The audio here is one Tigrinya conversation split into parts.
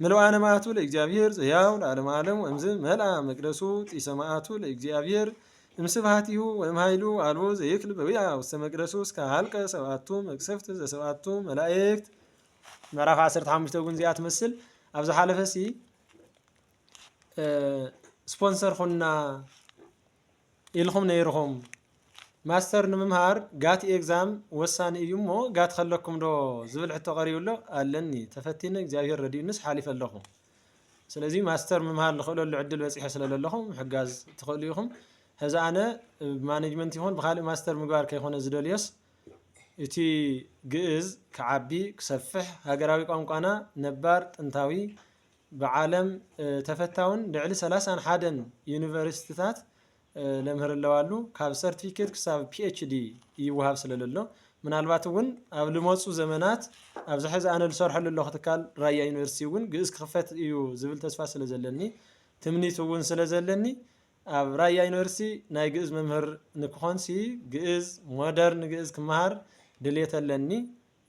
ምልዋነ መዓቱ ለእግዚኣብሔር ዘሕያው ለዓለመ ዓለም ወእምዝ መልኣ መቅደሱ ጢሰ መዓቱ ለእግዚኣብሔር እምስብሃቲሁ ወእምኃይሉ አልቦ ዘይክል በዊዓ ውስተ መቅደሱ እስከ ሀልቀ ሰብአቱ መቅሰፍት ዘሰብአቱ መላእክት ምዕራፍ 15 እውን እዚኣ ትመስል ኣብ ዝሓለፈ ሲ ስፖንሰር ኹና ኢልኩም ነይርኩም ማስተር ንምምሃር ጋት ኤግዛም ወሳኒ እዩ እሞ ጋት ከለኩም ዶ ዝብል ሕቶ ቀሪቡ ኣሎ ኣለኒ ተፈቲነ እግዚኣብሔር ረዲኡንስ ሓሊፈ ኣለኹ ስለዚ ማስተር ምምሃር ልኽእለሉ ዕድል በፂሐ ስለለለኹ ምሕጋዝ ትኽእሉ ኢኹም ሕዚ ኣነ ብማኔጅመንት ይኹን ብካልእ ማስተር ምግባር ከይኮነ ዝደልዮስ እቲ ግእዝ ክዓቢ ክሰፍሕ ሃገራዊ ቋንቋና ነባር ጥንታዊ ብዓለም ተፈታውን ልዕሊ ሰላሳን ሓደን ዩኒቨርሲቲታት ለምህር ኣለዋሉ ካብ ሰርቲፊኬት ክሳብ ፒኤችዲ ይወሃብ ስለለሎ ምናልባት እውን ኣብ ልመፁ ዘመናት ኣብዚ ሕዚ ኣነ ዝሰርሐሉ ኣለኹ ትካል ራያ ዩኒቨርሲቲ እውን ግእዝ ክኽፈት እዩ ዝብል ተስፋ ስለ ዘለኒ ትምኒት እውን ስለ ዘለኒ ኣብ ራያ ዩኒቨርሲቲ ናይ ግእዝ መምህር ንክኾንሲ ግእዝ ሞደርን ግእዝ ክመሃር ድሌት ኣለኒ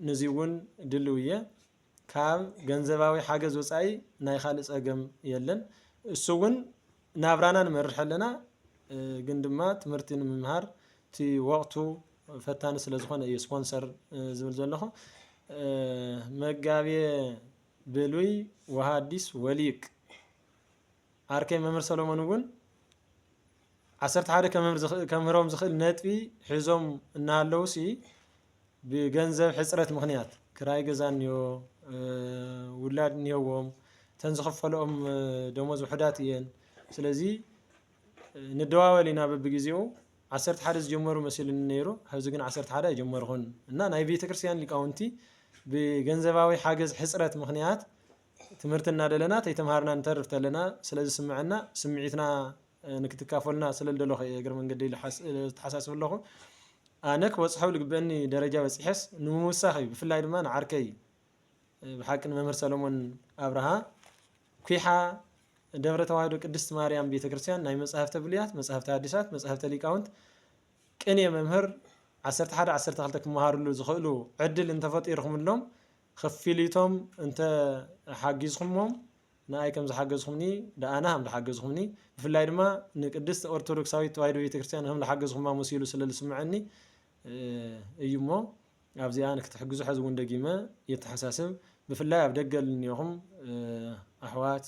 ንዚ እውን ድልው እየ ካብ ገንዘባዊ ሓገዝ ወፃኢ ናይ ካልእ ፀገም የለን። እሱ እውን ናብራና ንመርሕ ኣለና ግን ድማ ትምህርቲ ንምምሃር እቲ ወቕቱ ፈታኒ ስለ ዝኾነ እዩ ስፖንሰር ዝብል ዘለኹ። መጋቤ ብሉይ ወሃዲስ ወሊቅ ዓርከይ መምህር ሰሎሞን እውን ዓሰርተ ሓደ ከምህሮም ዝኽእል ነጥቢ ሒዞም እናሃለዉሲ ብገንዘብ ሕፅረት ምኽንያት ክራይ ገዛ እኒኦ፣ ውላድ እኒሀዎም፣ እተን ዝኽፈለኦም ደሞዝ ውሑዳት እየን። ስለዚ ንደዋወል ኢና በብግዜኡ ዓሰርተ ሓደ ዝጀመሩ መሲሉኒ ነይሩ ሐዚ ግን ዓሰርተ ሓደ ኣይጀመርኹን እና ናይ ቤተ ክርስቲያን ሊቃውንቲ ብገንዘባዊ ሓገዝ ሕፅረት ምክንያት ትምህርቲ እናደለና ተይተምሃርና ንተርፍ ተለና ስለ ዝስምዐና ስምዒትና ንክትካፈሉና ስለ ልደለኹ እየ እግረ መንገደይ ልተሓሳስብ ኣለኹ። ኣነ ክበጽሖ ኣብ ልግበኣኒ ደረጃ በጺሐስ ንምውሳኽ እዩ ብፍላይ ድማ ንዓርከይ ብሓቂ ንመምህር ሰለሞን ኣብርሃ ኲሓ ደብረ ተዋህዶ ቅድስት ማርያም ቤተ ክርስቲያን ናይ መጻሕፍተ ብሉያት መጻሕፍተ ኣዲሳት መጻሕፍተ ሊቃውንት ቅኔ መምህር 11 12 ክመሃርሉ ዝኽእሉ ዕድል እንተፈጢርኹምሎም ክፊሊቶም እንተ ሓጊዝኹሞም ንኣይ ከም ዝሓገዝኹምኒ ደኣና ከም ዝሓገዝኹምኒ ብፍላይ ድማ ንቅድስት ኦርቶዶክሳዊት ተዋሂዶ ቤተክርስትያን ከም ዝሓገዝኹማ መሲሉ ስለ ዝስምዐኒ እዩ እሞ ኣብዚኣ ንክትሕግዙ ሕዚ እውን ደጊመ የተሓሳስብ ብፍላይ ኣብ ደገ ልንዮኹም ኣሕዋት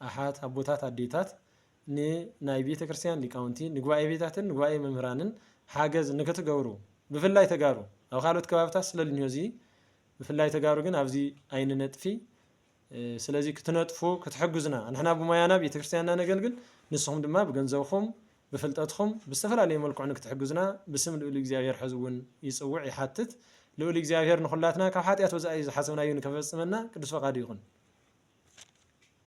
ኣሓት ኣቦታት ኣዴታት ንናይ ቤተ ክርስቲያን ሊቃውንቲ ንጉባኤ ቤታትን ንጉባኤ መምህራንን ሓገዝ ንክትገብሩ ብፍላይ ተጋሩ ኣብ ካልኦት ከባብታት ስለ ልንዮ እዚ ብፍላይ ተጋሩ ግን ኣብዚ ኣይንነጥፊ ስለዚ ክትነጥፉ ክትሕግዙና ንሕና ብሞያና ቤተክርስትያንና ነገልግል ንስኹም ድማ ብገንዘብኹም ብፍልጠትኹም ብዝተፈላለየ መልክዑ ንክትሕግዙና ብስም ልኡል እግዚኣብሔር ሕዚ እውን ይጽውዕ ይሓትት ልኡል እግዚኣብሔር ንኹላትና ካብ ሓጢኣት ወጻኢ ዝሓሰብናዮ ንከፈጽመና ቅዱስ ፈቃዱ ይኹን።